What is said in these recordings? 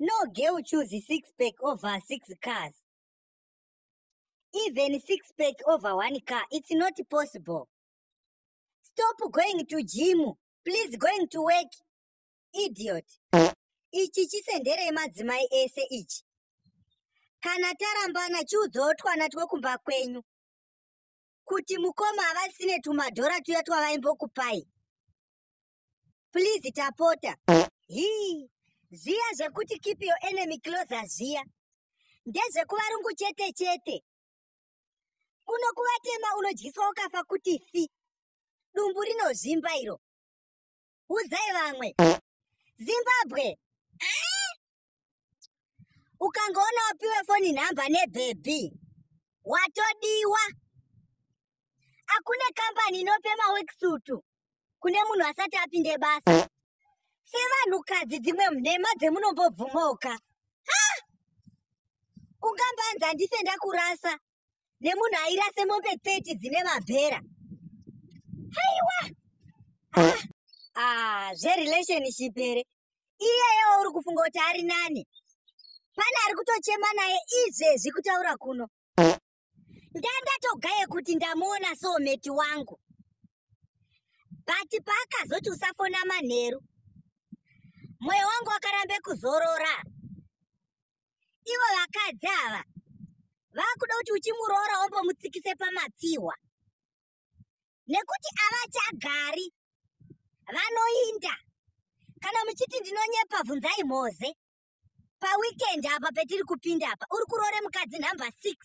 No girl choose six pack over six cars. Even six pack over one car, it's not possible. Stop going to gym. Please going to work. Idiot. Ichi chisendere yemadzimai ese ichi. Kana tarambana chiudzawo twana twekumba kwenyu kuti mukoma havasine tumadhora tuya twavaimbokupai. please tapota hii zviya zvekuti keep your enemy closer zviya ndezvekuvarungu chete chete kuno kuvatema unodyiswa ukafa kuti fi dumbu rinozvimba iro udzai vamwe zimbabwe ah! ukangoona wapiwe foni nhamba nebhebhi watodiwa hakune kambani inope mawekisutu kune munhu asati apinde basa sevanhukadzi dzimwe nhema dzemunombobvumoka ungambanzi handife ndakurasa nemunhu airase mombe 30 dzine mabhera haiwa ah, ah, zverelationship here iyeyewo uri kufunga kuti ari nani pane ari kutochema naye izvezvi kutaura kuno ndandatogaye kuti ndamuona soometi wangu but paakazoti usafona manheru mwoyo wangu wakaramba kuzorora ivo vakadzi ava vakuda kuti uchimuroora wombomutsikise pamatsiwa nekuti avachagari vanoinda kana muchiti ndinonyepa bvunzai mhoze paweekend apa petiri kupinda apa uri kuroore mukadzi number six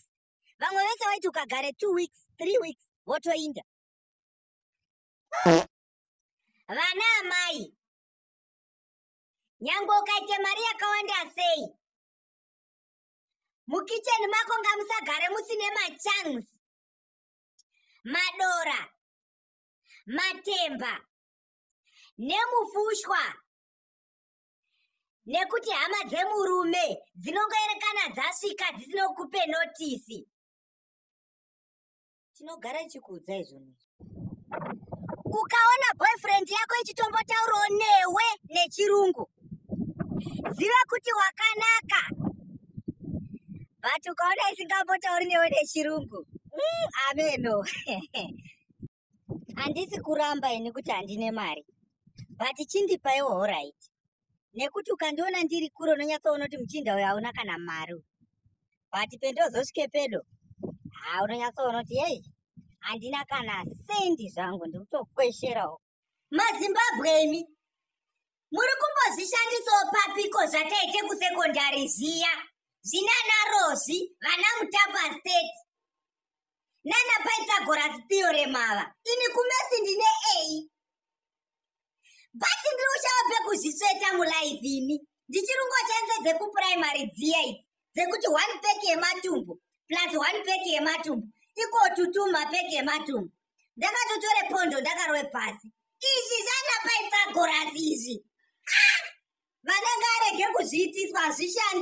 vamwe vese vaiti ukagare two weeks three weeks votoinda vana amai nyangwe ukaita mari yakawanda sei mukicheni mako ngamusagare musine machance madora matemba nemufushwa nekuti hama dzemurume dzinongoerekana dzasvika dzisinokupe notisi tinogara ichikuudzai zvinhu izvi ukaona boyfriend yako ichitombotaurawo newe nechirungu ziva kuti wakanaka but ukaona isingambotauri newe nechirungu mm, ameno handisi kuramba ini kuti handine mari but chindipaiwo horaiti nekuti ukandiona ndiri kure unonyatsoona kuti muchinda uyo hauna kana mari but pendozosvike pedo ha unonyatsoona kuti yei handina kana sendi zvangu ndikutokwesherawo mazimbabwe imi muri kumbozvishandisawo papiko zvataite kusekondari zviya zvinana rozvi vana mutapa state nana pythagoras theorem ava ini kumesi ndine ei but ndiri kushava pekuzvitsveta mulife ini ndichirungo chanze dzekupuraimary dziya idzi dzekuti one pack yematumbu plus one pack yematumbu ikotutuma pack yematumbu ndakatotore pondo ndakarove pasi izvi zvanapaitsagorasi izvi ah! vanenge arege kuzviitiswa hazvishandi